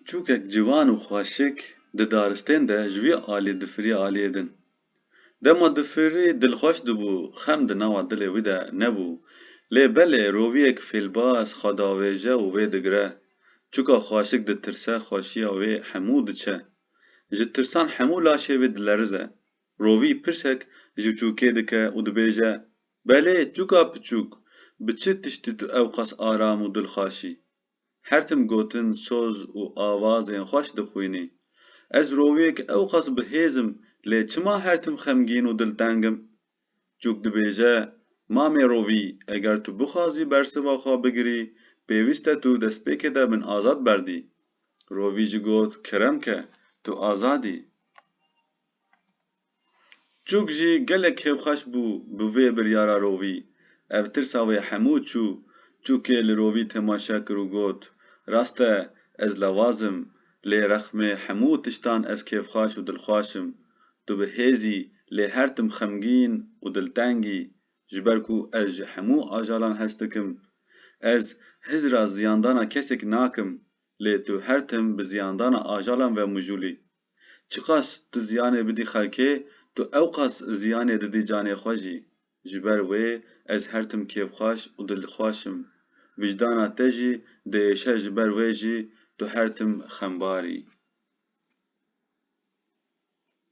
Çûkek ciwan û xweşik di daristên de ji wî alî difirî aliyê din. Dema difirî dilxweş dibû, xem di nava dilê wî de nebû. Lê belê roviyek fêlbaz xwe davêje û vê digire. Çûka xweşik ditirse xweşiya wê hemû diçe. Ji tirsan hemû laşê wê dilerize. Rovî pirsek ji çûkê dike û dibêje, Belê çûka piçûk, bi çi tiştî tu ewqas aram û dilxweş î? Her tim gotin, soz û awazên xweş dixwînî. Ez roviyek ewqas bi hêz im, lê çima her tim xemgîn û dilteng im? Çûk dibêje, Mamê Rovî, eger tu bixwazî bersiva xwe bigirî, pêwîst e tu destpêkê de min azad berdî. Rovî jî got, Kerem ke, tu azad î. Çûk jî gelek hêvxweş bû bi vê biryara Rovî. Ev tirsa wê hemû çû. Çûkê li Rovî temaşe kir û got, Rast e, ez lawaz im, lê rexmê hemû tiştan ez kêfxweş û dilxweş im. Tu bi hêz î, lê her tim xemgîn û dilteng î. Ji ber ku ez ji hemû ajalan hest dikim. Ez hizira ziyandana kesekî nakim, lê tu her tim bi ziyandana ajalan vemijûlî. Çiqas tu ziyanê bidî xelkê, tu ewqas ziyanê didî canê xwe jî. Ji ber wê ez her tim kêfxweş û dilxweş im. Vijdana te jî diêşe ji ber wê jî tu her tim xembar î.